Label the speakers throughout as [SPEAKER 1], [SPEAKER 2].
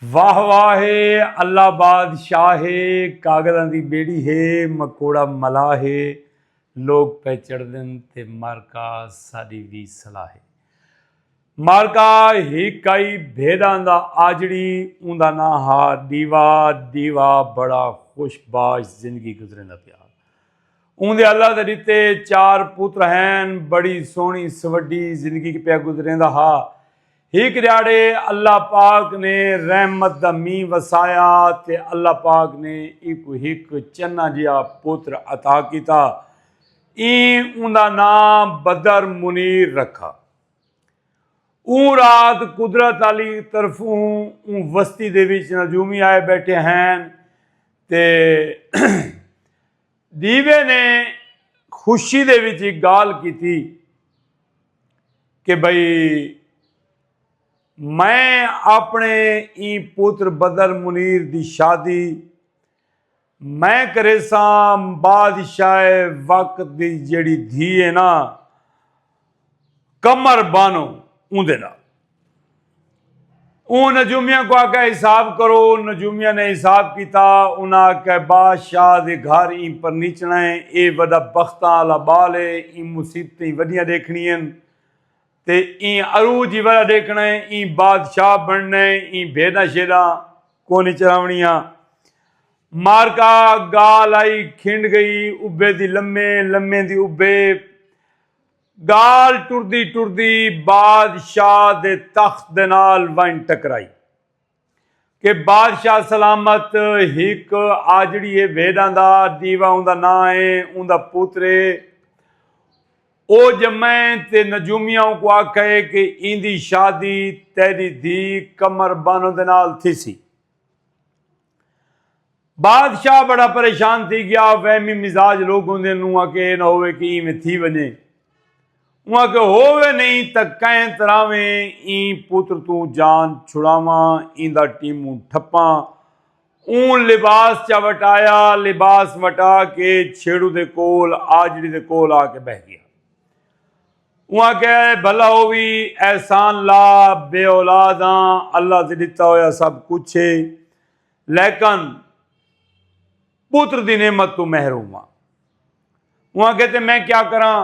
[SPEAKER 1] واہ واہ ہے اللہ بادشاہ ہے کاغذاں دی بیڑی ہے مکوڑا ملا ہے لوگ پہ چڑھدن تے مارکا ساڈی وی صلاح ہے مارکا ہی کئی بھیداں دا آجڑی اوندا نا ہا دیوا دیوا بڑا خوش باش زندگی گزرے دا پیا اوندے اللہ دے دیتے چار پوتر ہیں بڑی سونی سوڈی زندگی پیا گزرے دا ہا ہک ڈیہاڑے اللہ پاک نے رحمت دا مینہ وسایا تے اللہ پاک نے ایکو ہک چنا جیا پتر عطا کیتا این اوندا نام بدر منیر رکھا اون رات قدرت علی طرفوں اون وستی دے وچ نجومی آئے بیٹھے ہیں تے دیوے نے خوشی دے وچ ہک گالھ کیتی کہ بھئی میں آپݨے ایں پتر بدر منیر دی شادی میں کریساں بادشاہ وقت دی جیڑھی دھی ہے نا کمر بانو اوندے نال اون نجومیاں کو آکھیا حساب کرو نجومیاں نے حساب کیتا انہاں آکھیا بادشاہ دے گھر ایں پرنیچنا ہے اے وڈا بختاں آلا بال ہے ایں مصیبتیں وڈیاں ڈیکھنی ہن تے ایں عروج ہی وڈا ڈیکھنا ہے ایں بادشاہ بننا ہے ایں بھیڈاں شیڈاں کونی چراونیاں مارکا گال آئی کھنڈ گئی ابے دی لمے لمے دی ابے ڳالھ ٹردی ٹردی بادشاہ دے تخت دے نال ونڄ ٹکرائی کہ بادشاہ سلامت ہک آجڑی ہے ویݙاں دا ݙیوا اوندا ناں ہے اوندا پتر ہے او ڄمئے تے نجومیاں اونکوں آکھئے کہ ایندی شادی تیݙی دھی قمر بانو دے نال تھیسی۔ بادشاہ بڑا پریشان تھی گیا وہمی مزاج لوگ ہوندے نوں آکے اے نہ ہووے کہ ایں میں تھی ونجے اوں آکے ہووے نہیں تاں کہیں تراویں ایں پتر توں جان چھڑاواں ایندا ٹیموں ٹھپاں اوں لباس چا وٹایا لباس وٹا کے چھیڑو دے کول آجڑی دے کول آکے بہہ گیا اوں آکھیا اے بھلا او وی احسان لا بے اولاد ہاں اللہ تے ڈتا ہویا سب کچھ اے لیکن پتر دی نعمت توں محروم ہاں اوں آکھیا تے میں کیا کراں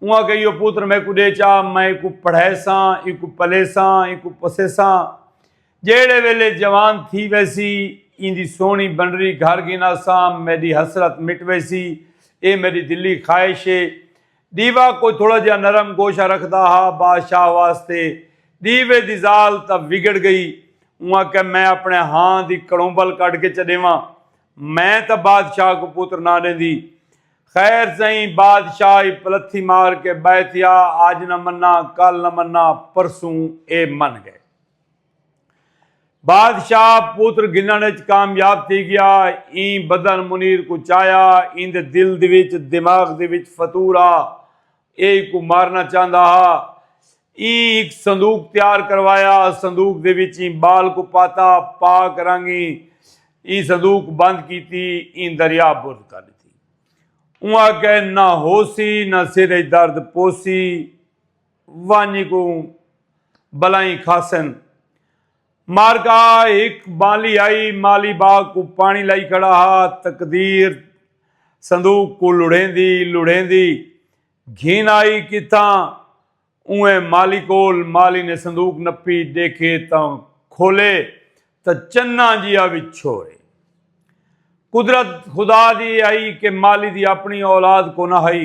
[SPEAKER 1] اوں آکھیا ایہو پتر میکوں ڈے چا میں ایکوں پڑھائیساں ایکوں پلیساں ایکوں پسیساں جیہڑے ویلے جوان تھی ویسی ایندی سوہنی بنری گھر گھناساں میڈی حسرت مٹ ویسی اے میڈی دلی خواہش اے ݙیوا کوئی تھوڑا جیہا نرم گوشہ رکھدا ہا بادشاہ واسطے ݙیوے دی ذال تاں وگڑ ڳئی اوں آکھیا میں اپݨے ہاں دی کڑومبل کڈھ کے چا ݙیواں میں تاں بادشاہ کوں پتر نہ ݙیندی خیر سئیں بادشاہ ای پلتھی مار کے ٻہہ تھیا اڄ نہ منا کل نہ منا پرسوں اے من ڳئے۔ بادشاہ پتر گھنݨ اچ کامیاب تھی ڳیا۔ ایں بدن منیر کوں چایا۔ ایندے دل دے وچ، دماغ دے وچ فطور ہا۔ ایہ ایکوں مارݨا چاہندا ہا۔ ایں ہک صندوق تیار کروایا۔ صندوق دے وچ ایں ٻال کوں پاتا۔ پاک رنگ ایں ایں صندوق بند کیتی۔ ایں دریا برد کر ݙتی۔ اوں آکھیا نہ ہوسی نہ سر اچ درد پوسی۔ ونج کوں بلائیں کھاسن۔ مارکا ہک بالی آئی مالی باغ کو پانی لائی کھڑا ہا تقدیر صندوق کو لڑیندی لڑیندی گھن آئی کتھاں اوئیں مالی کول مالی نے صندوق نپی ڈیکھے تاں کھولے تاں چنا جیا وچھو اے قدرت خدا دی آئی کہ مالی دی اپنی اولاد کونہ ہئی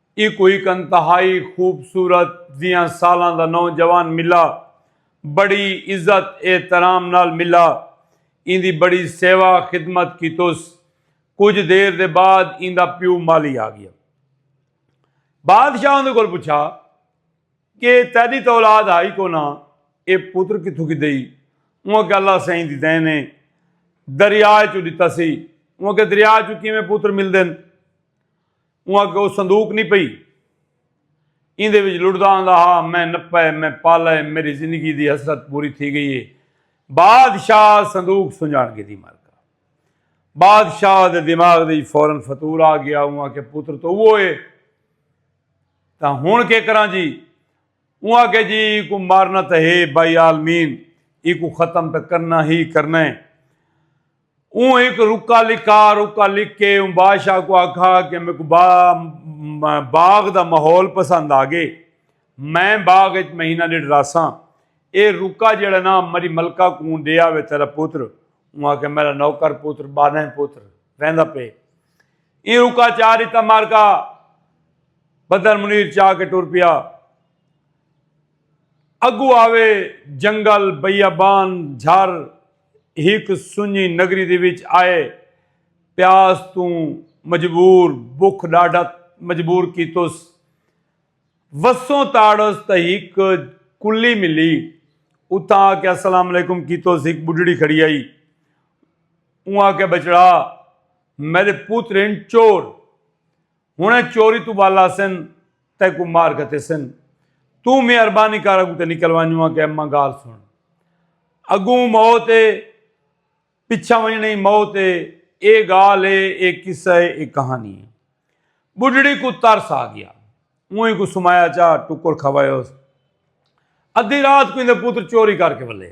[SPEAKER 1] ایکوں ہک انتہائی خوبصورت ویہاں سالاں دا نوجوان ملا۔ بڑی عزت احترام نال ملا۔ ایندی بڑی سیوا خدمت کیتس۔ کجھ دیر دے بعد ایندا پیو مالی آ گیا۔ بادشاہ اوندے کول پچھا کہ تیڈی تاں اولاد ہئی کونا اے پتر کتھوں گھدئی۔ اوں آکھیا اللہ سئیں دی دین اے۔ دریا اچوں ڈتا سی۔ اوں آکھیا دریا اچوں کیویں پتر ملدن۔ اوں آکھیا او صندوق نی پئی ایندے وچ لڑدا آندا ہا میں نپا ء میں پالا ء میڈی زندگی دی حسرت پوری تھی گئی ء بادشاہ صندوق سنجاݨ گھدی مر گا بادشاہ دے دماغ دے وچ فورا فطور آ گیا اوں آکھیا پتر تو اوہو ء تاں ہنڑ کے کراں جی اوں آکھیا جی ایکوں مارنا تاں ہے بائی عالمین ایکوں ختم تاں کرنا ہی کرنا ء۔ اوں ہک رکا لکھا رکا لکھ کے اوں بادشاہ کو آکھا کہ میکوں با باغ دا ماحول پسند آگے میں باغ اچ مہینہ ڈیڈھ رہساں اے رکا جیڑھا نا مری ملکہ کوں ڈے آوے تیرا پوتر اوں آکھیا میرا نوکر پوتر بانہیں پوتر ویندا پے ایں رکا چا ڈتا مارکا بدر منیر چا کے ٹر پیا اگو آوے جنگل بیابان جھر ہک سنجی نگری دے وچ آئے پیاس توں مجبور بکھ ڈاڈھا مجبور کیتس وسوں تاڑس تاں ہک کلی ملی اتھاں آ کے السلام علیکم کیتس ہک بڈھڑی کھڑی آئی اوں آکھیا بچڑا میڈے پوترین چور ہنڑیں چوری توں بال آسن تیں کوں مار گھتیسن۔ توں مہربانی کر اگوں تے نکل ونج ماں کے اماں گال سنڑ۔ اگوں موت اے پچھاں ونجنڑیں ای موت اے اے گال اے اے قصہ اے اے کہانی اے۔ بڈھڑی کوں ترس آ گیا۔ اونہی کوں سمایا چا ٹکر کھوایوس۔ ادھی رات کوں ایندے پتر چوری کر کے ولے۔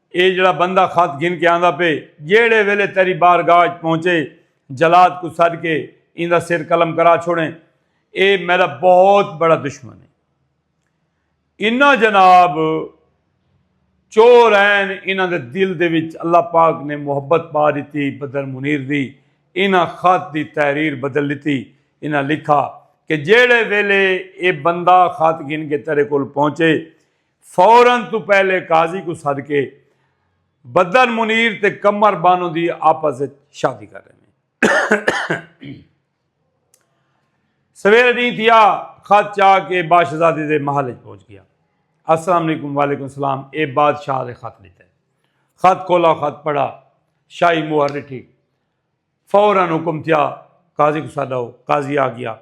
[SPEAKER 1] اے جیڑھا بندہ خط گھن کے آندا پے، جیڑھے ویلے تیری بارگاہ اچ پہنچے، جلاد کوں سڈ کے ایندا سر قلم کرا چھوڑیں، اے میڈا بہت بڑا دشمن اے۔ انہاں جناب چور ہین، انہاں دے دل دے وچ اللہ پاک نے محبت پا ڈتی بدر منیر دی، انہاں خط دی تحریر بدل ڈتی، انہاں لکھا کہ جیڑھے ویلے اے بندہ خط گھن کے تیڈے کول پہنچے، فورا توں پہلے قاضی کوں سد کے بدن منیر تے قمر بانو دی آپس اچ شادی کر ڈیندے۔ سویرے ڈینھ تھیا خط چا کے باشزادی دے محل اچ پہنچ گیا۔ السلام علیکم وعلیکم السلام اے بادشاہ دے خط ڈتے۔ خط کھولا خط پڑھا شاہی مہر ڈٹھی فورا حکم تھیا قاضی کوں سد آؤ قاضی آ گیا۔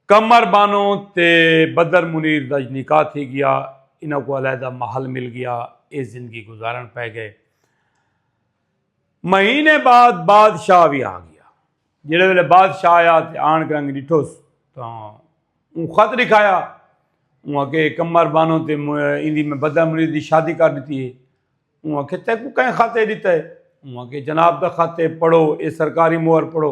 [SPEAKER 1] قمر بانو تے بدر منیر دا نکاح تھی گیا۔ انہاں کوں علیحدہ محل مل گیا۔ ایہ زندگی گزارݨ پئے گئے۔ مہینے بعد بادشاہ وی آ گیا۔ جیڑھے ویلے بادشاہ آیا تے آن کے انہاں ݙٹھوس تاں اوں خط ݙکھایا۔ اوں آکھے قمر بانو تے ایندی میں بدر منیر دی شادی کر ݙتی ہے۔ اوں آکھے تیکوں کئیں خط ایہ ݙتا ہے؟ اوں آکھے جناب دا خط ہے پڑھو ایہ سرکاری مہر پڑھو۔